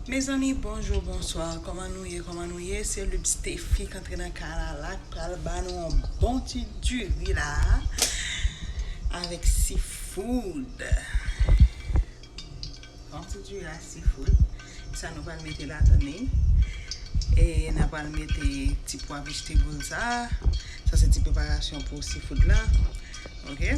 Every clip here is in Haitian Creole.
Mezanmi bonjour bonsoir koman nou ye koman nou ye se lub stephie k antre nan kay la la k pral ba nou yon bon ti diri la avèk si food bon ti diri la si food sa nou pral mete ladan li e na pral mete ti pwa vegetable sa sa se ti preparasyon pou si food la ok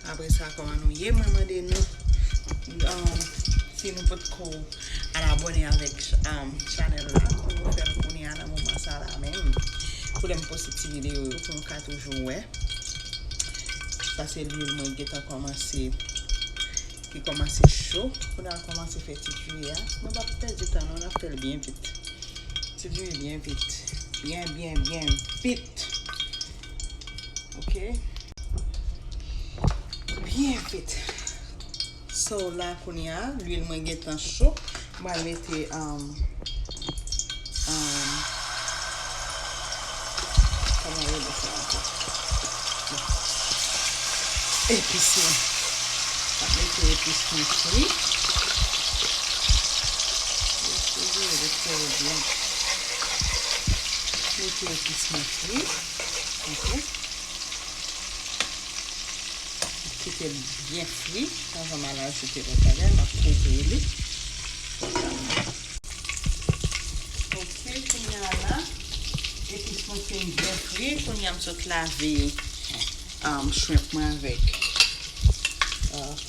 Apre sa kòman nou ye mwen mande nou si nou pot ko al abone avèk chanèl la pou nou fèl kounye a nan moman sa la menm pou lèm poste ti videyo yo pou nou ka toujou wè sa se lwil mwen gentan kòmanse ki kòmanse cho pou nan kòmanse fè ti djouye a nou pap pèdi tan nou nan fèl byen vit ti djouye byen vit byen byen byen vit Ok Byen fèt Sa w la kounya Lwil mwen gentan cho M pral mete Koman yo rele sa ankò Epis mwen M ap mete epis mwen fri Mete epis mwen fri Li konsa kite l byen fri anvan m al ajoute lòt bagay m ap kouvri li konsa ok kounya la epis mwen fin byen fri kounya m sot lave shrimp mwen avèk.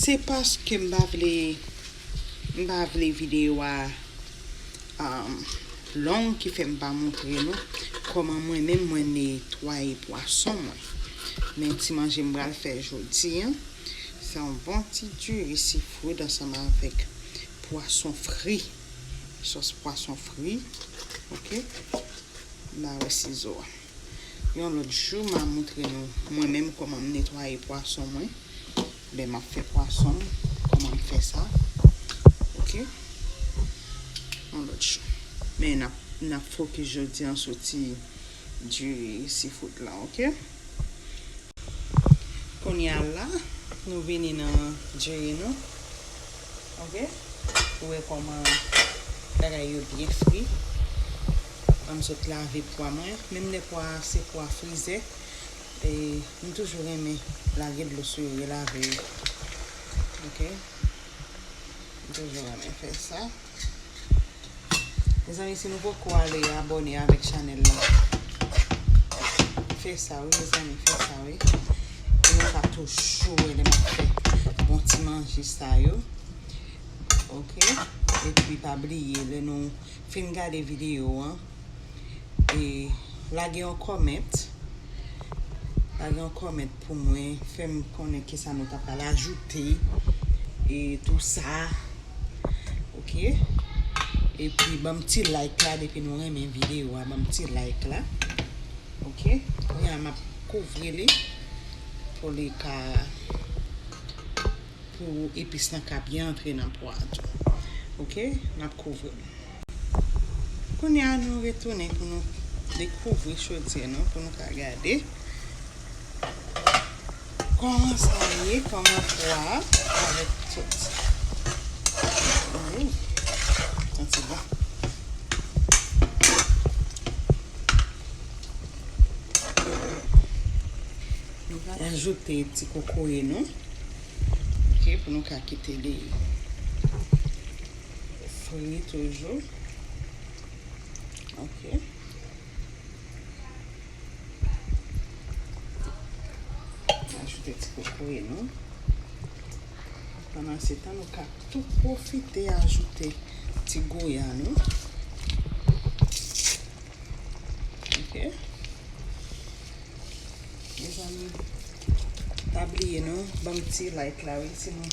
Se paske m pa vle m pa vle video a long ki fè m pa montre nou kòman mwen menm mwen netwaye pwason mwen men ti manje m pral fè jodi an se yon bon ti diri seafood ansanm avèk pwason fri sòs pwason fri ok m ba wè sizo a. Yon lòt jou ma moutre nou mwen menm kòman m netwaye pwason mwen lè map fè pwason m kòman m fè sa ok yon lòt jou men nap nap fokis jodi an sou ti diri seafood lan ok kounya la nou vini nan diri nou. Ok Ou wè kòman bagay yo byen fri Anm sot lave pwa mwen Menm lè pwa a se pwa frize e m toujou renmen lage dlo sou yo relave yo Ok M toujou renmen fè sa. Mezanmi si nou poko ale abone avek chanel la Fe sa wi mezanmi fe sa wi Pou nou ka toujou we le map fe bon ti manje sa yo Ok Epi pa bliye le nou fin gade video an e lage yon comment lage yon comment pou mwen fèm konnen kisa nou ta pral ajoute e tou sa ok e pi banm ti like la depi nou renmen video a banm ti like la ok kounya map kouvri li pou li ka Pou epis lan ka byen antre nan pwa a tou. Ok nap kouvri l. Kounye a nou retounen pou nou dekouvri chodyè nou pou nou ka gade kòman sa ye kòman pwa a avèk tout ooh santi bon. Nou pral ajoute ti kokoye nou ok pou nou ka kite li fri toujou ok ajoute ti kokoye nou pandan se tan nou ka tou profite ajoute ti goya nou ok Mezanmi pa bliye nou banm ti like la wi si nou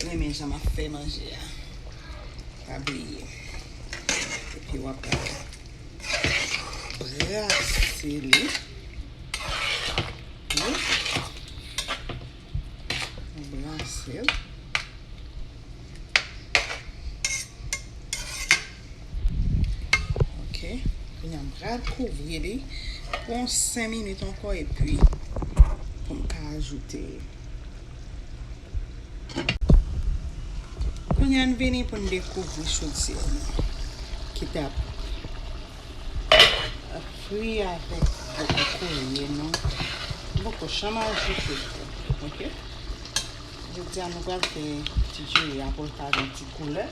renmen jan map fè manje a pa bliye epi wap brase li wi. Mwen brase l. Ok. Kounye a m pral kouvri li pou yon 5 minit ankò epi pou m ka ajoute. Kounye a n vini pou n dekouvri chodyè nou ki tap. Fri avèk boko ko ye non. Boko chama ou sou se fri. Ok. Je di a nou pral fè ti je ya pou l ka gen ti koulè.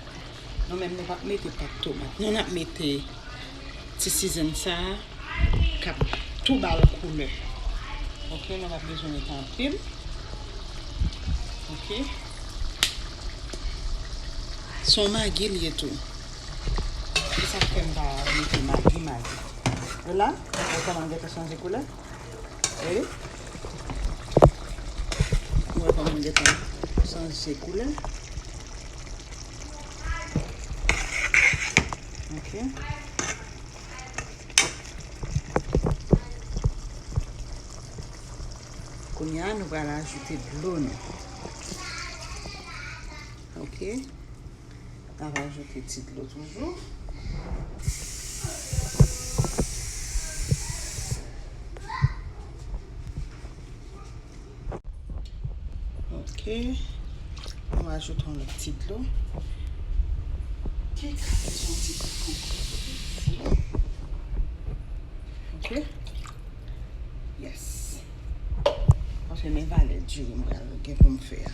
Nou menm nou pap mete pat tomat. Nou nap mete ti sizen sa a kap tou bal koulè. Ok. Nou pap bezwen mete anpil. Ok. Son magi li ye tou. Se sak fèm pa mete magi magi. Ou la? Ou koman l gentan chanje koulè? Ou wè? Ou wè koman l gentan chanje koulè? Ok. Kounye a nou pral ajoute dlo nou. Ok. Mwen va ajoute ti dlo toujou. Ok. Mwen va ajoute yon lòt ti dlo. Kèk sa fè son ti kou kou. Ok. Yes. Mwen fè men valè diri mwen gen pou mwen fè a.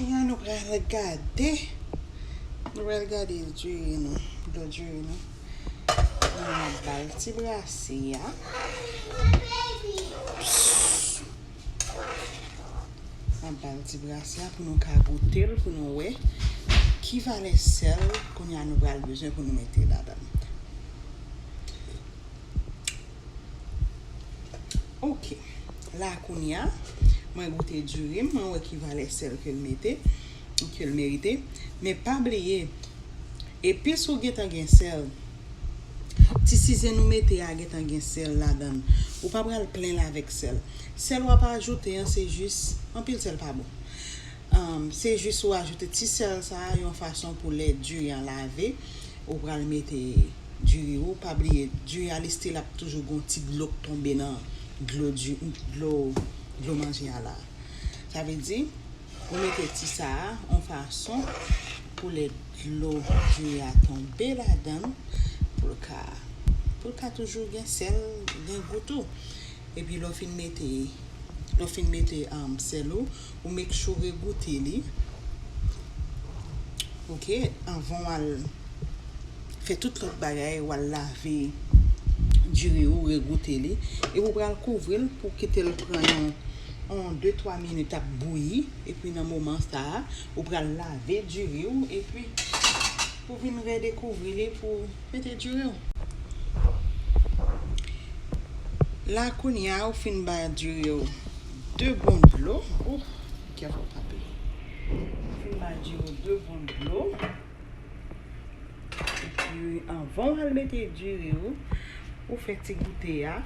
Kounya nou pral gade, nou pral gade diri nou, dlo diri nou. Nou ap ba l ti brase a. N ap ba l ti brase a pou nou ka goute l, pou nou wè ki valè sèl kounya nou pral bezwen pou nou mete ladan l. Ok la kounya mwen goute diri m mwen wè ki valè sèl ke l mete ke l merite men pa bliye epis ou gentan gen sèl ti sizen ou mete a gentan gen sèl ladan l ou pa pral plen l avèk sèl sèl w ap ajoute an se jis anpil sèl pa bon se jis ou ajoute ti sèl sa a yon fason pou lè diri an lave ou pral mete du riz ou pa bliye du a li still ap toujou gon ti dlo k tonbe nan dlo du dlo dlo manje a la sa vle di ou mete ti sa a on fason pou lè dlo du riz a tonbe ladann poul ka poul ka toujou gen sèl gen gou tou epi lè w fin mete lè w fin mete sèl ou. ou make sure goute li ok anvan wal fè tout lòt bagay wal lave diri ou re goute li epi ou pral kouvril pou kitel pran yon yon 2 3 minit ap bouyi epi nan moman sa ou pral lave diri ou epi pou vin re dekouvri li pou mete diri ou la kounya ou fin ba diri ou. 2 bon dlo. Ouh kè fò frape. M fin bay diri 2 bon dlo. Epi anvan w al mete diri ou, ou fè ti goute a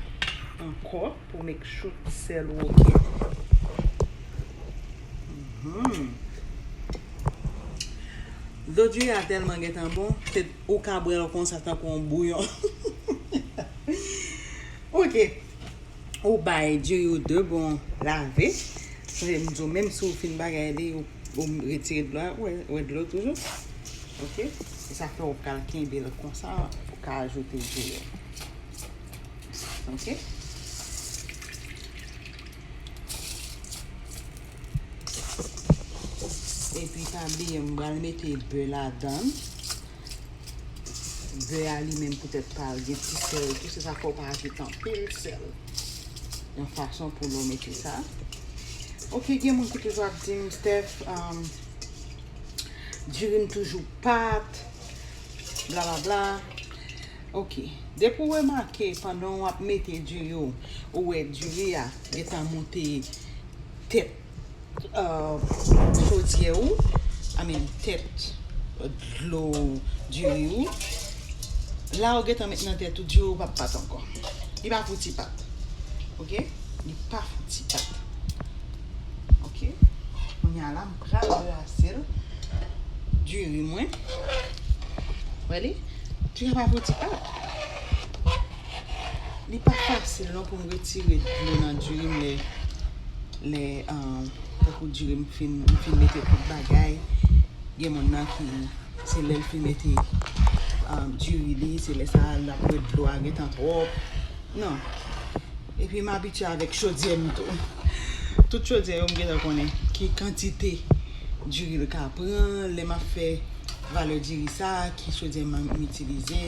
ankò pou make sure tout sèl ou ok. Dlo diri a tèlman gentan bon, ou ka bwè l konsa tankou yon bouyon. Ok. Ou bay diri yo 2 bon lave. Sonje m di w menm si w fin bagay li ou retire dlo a, ou wè dlo toujou. Ok, se sa fè ou pral kenbe l konsa pou w ka ajoute diri yo. Ok. Epi pa bliye m pral mete bè ladan l. Bè a li menm poutèt pa l gen ti sèl tou, se sa fè w pa ajoute anpil sèl. Yon fason pou lè w mete sa. Ok, gen moun ki toujou ap di m, Steph, um, diri m toujou pat, bla bla bla. Ok, depi w remake pandan w ap mete diri w, ou wè diri a gen tan monte tèt Chodyè ou, I mean tèt dlo diri ou, la ou gentan met nan tèt ou diri ou pap pat ankò. Li pa pou ti pat. Ok, li pa pou ti pat. Ok, kounya la m pral brase l diri mwen. Wè li? Diri a pa pou ti pat. Li pa fasil non pou m retire dlo nan diri m lè tankou diri m fin mete tout bagay. Gen moun nan ki se lè l fin mete diri li, se lè sa l ap wè dlo a gentan twòp. Non. E pi m abitye avèk chodyè m tou. Tout chodyè yo m gentan konnen ki kantite. Diri l ka pran lè m ap fè valè diri sa ki chodyè m itilize.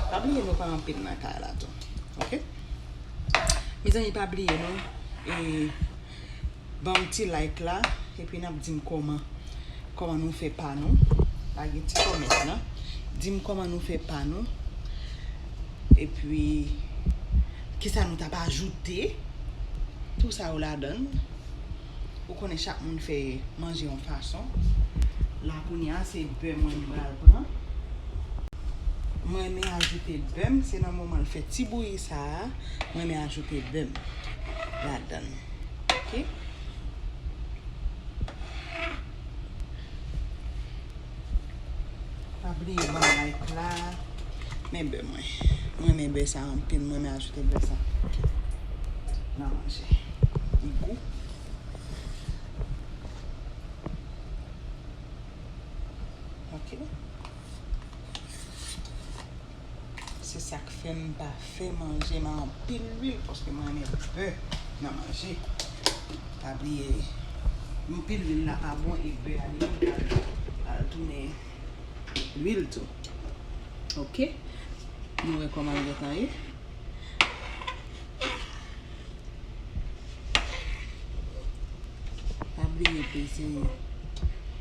Pa bliye nou pa anpil nan kay la tou ok. Mezanmi pa bliye nou e banm ti like la epi n ap di m kòman kòman nou fè pa nou lage ti kòmant la di m kòman nou fè pa nou epi kisa nou t ap ajoute tou sa yo ladan l. Ou konnen chak moun fè manje yon fason. La kounye a se bè mwen m pral pran. M renmen ajoute bè m. Se nan moman l fè ti bouyi sa a, m renmen ajoute bè m ladan l. Ok. Pa bliye banm like la. Men bè mwen. Mwen renmen bè sa anpil. Mwen renmen ajoute bè sa. Nan manje. Li gou. Ok. Se sak fèm pa fè manje nan anpil lwil paske mwen renmen bè nan manje. Pa bliye anpil lwil la pa bon e bè a li menm pral tounen lwil tou. Ok nou wè kòman l gentan ye. Pa bliye peze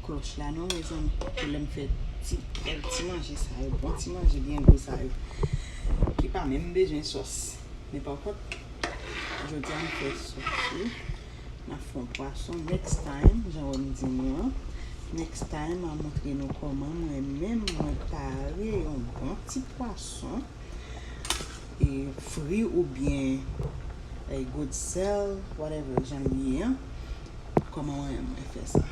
kloch la non mezanmi pou lèm fè ti bèl ti manje sa yo bon ti manje byen gou sa yo ki pa menm bezwen sòs men pa kont jodi a m fè sòs wi m ap fè yon pwason next time jan wèm di nou an next time m ap montre nou kòman mwen menm mwen pare yon bon ti pwason e fri ou byen e good sel whatever jan li ye an koman mwen mwen fè sa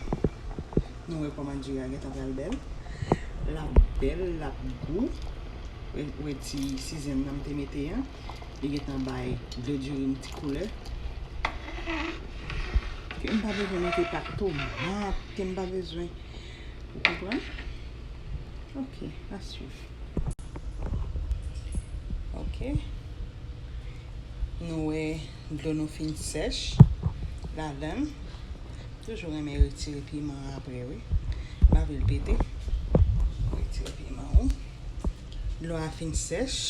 nou wè koman diri a gentan pral bèl lap bèl lap gou ou wè ti sizèm nan mte mete an li gentan bay dlo diri yon ti koulè ke mpa bezwen mete pat tomat ke mpa bezwen ou konprann ok a swiv. Ok Nou wè dlo nou fin sèch ladann toujou renmen retire piman apre wi pa vle l pete retire piman ou dlo a fin sèch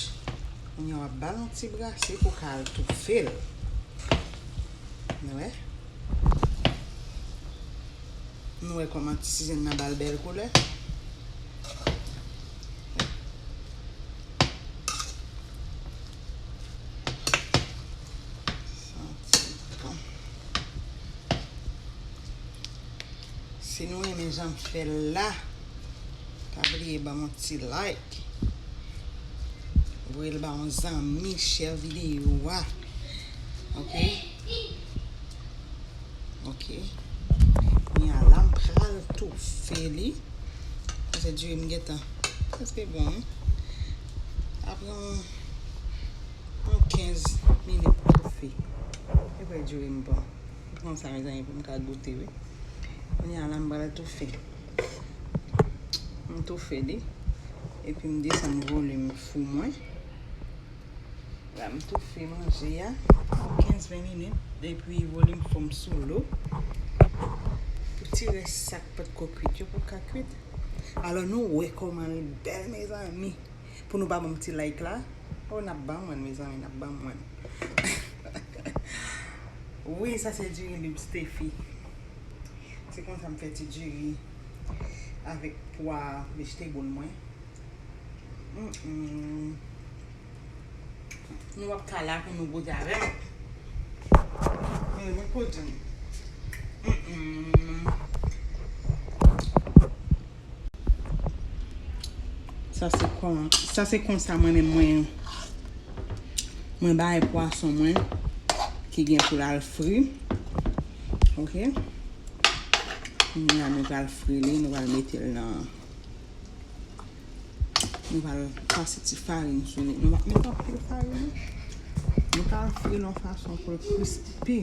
kounye w ap ba l yon ti brase pou ka al toufe l nou wè nou wè kòman tisigen nan ba l bèl koulè. Si nou renmen jan m fè l la, pa bliye ban m yon ti like. Voye l ba yon zanmi, share videyo a. Ok? Ok Kounye a la m pral toufe li Paske diri m gentan Prèske bon wi Ap pran yon Yon 15 minit toufe Ou kwè diri m bon Ou pran sa mezanmi pou m ka goute wi Kounye a la m pral toufe M toufe li Epi m desann volim fou mwen La m toufe manje a pou 15 20 minit epi volim fom sou lo pou ti res sa k pat ko kwit yo pou ka kwit alò nou wè koman li bèl mezanmi pou nou pa banm ti like la oh nap banmwen mezanmi nap banmwen wi sa se diri lib stefi se konsa m fè ti diri avèk pwa vejtebol mwen. Nou wap ka la pou nou goute avè m. Mwen ko di nou. Sa se konsa mwen men mwen. Mwen bay pwason mwen. Ki gen pou lal fri. Ok. Mwen an nou pral fri li. Nou pral mete l nan. Nou va l pase ti farin sou li. Nou va met anpil farin. Nou ka fri l yon fason pou l krispi.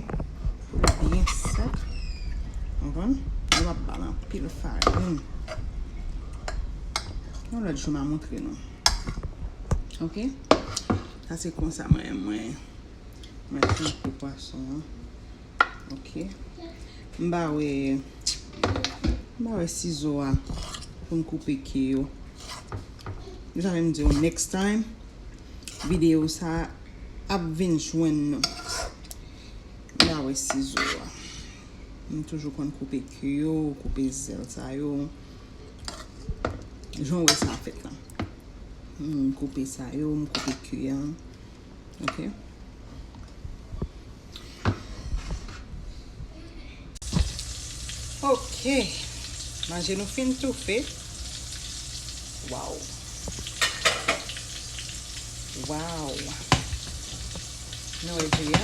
Pou l byen sèk. Anvan. Nou va ba l anpil farin. Yon lòt jou m a montre nou. Ok. Sa se konsa mwen mwen. Mwen fri pou pwason an. Ok. M ba we. M ba we sizo a. Pou m koupe ke yo. M ta renmen di w next time. Video sa ap vin jwenn nou. M ba we sizo a. M toujou konn koupe ke yo. Koupe zel sa yo. Jan w we sa a fet la. M koupe sa yo. M koupe ke yo. Ok Manje nou fin toufe Waw Waw Nou e di ya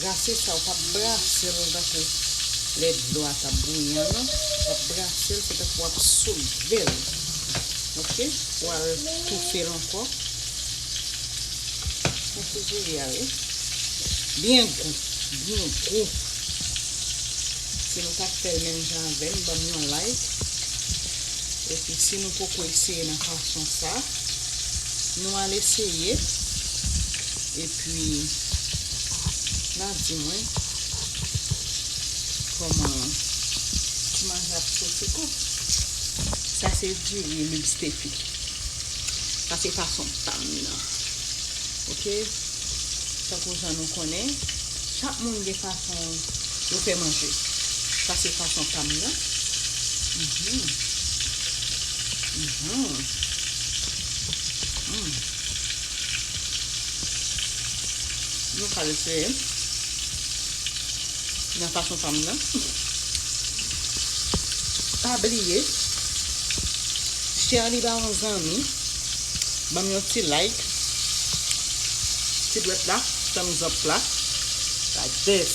Brase sa ou pap brase l tankou lè dlo a tap bouyi an non wap brase l se tankou wap soulve l ok ou al toufe l ankò nan fou bouyi a wi byen gou byen gou si nou tap fèl menm jan avèm banm yon like epi si nou poko eseye nan fason sa nou al eseye. Epi nan di mwen koman ti manje ap soti kou. Sa se diri lubstefi. Sa se fason pam nan. Ok tankou jan nou konnen chak moun gen fason yo fè manje. Sa se fason pam nan. Mhmm mhmm mhmm. Nou pral eseye nan fason pa m nan. Pa bliye share li ba yon zanmi. Ban m yon ti like. Ti dwèt la, thumbs up la. Like this.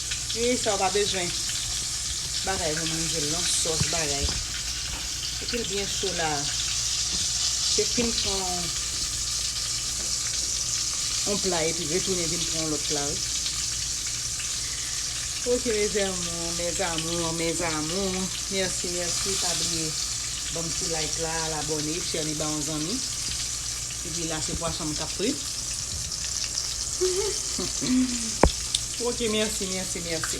Ui sa ou pa bezwen bagay pou manjel non sos bagay epil byen cho la se fin pran yon pla epi retounen vin pran yon lot pla wi ok mes amours mes amours mes amours merci merci pa bliye banm ti like la al abone chèli ba yon zanmi. Epi la se pwason m kap frit. Ok merci merci merci.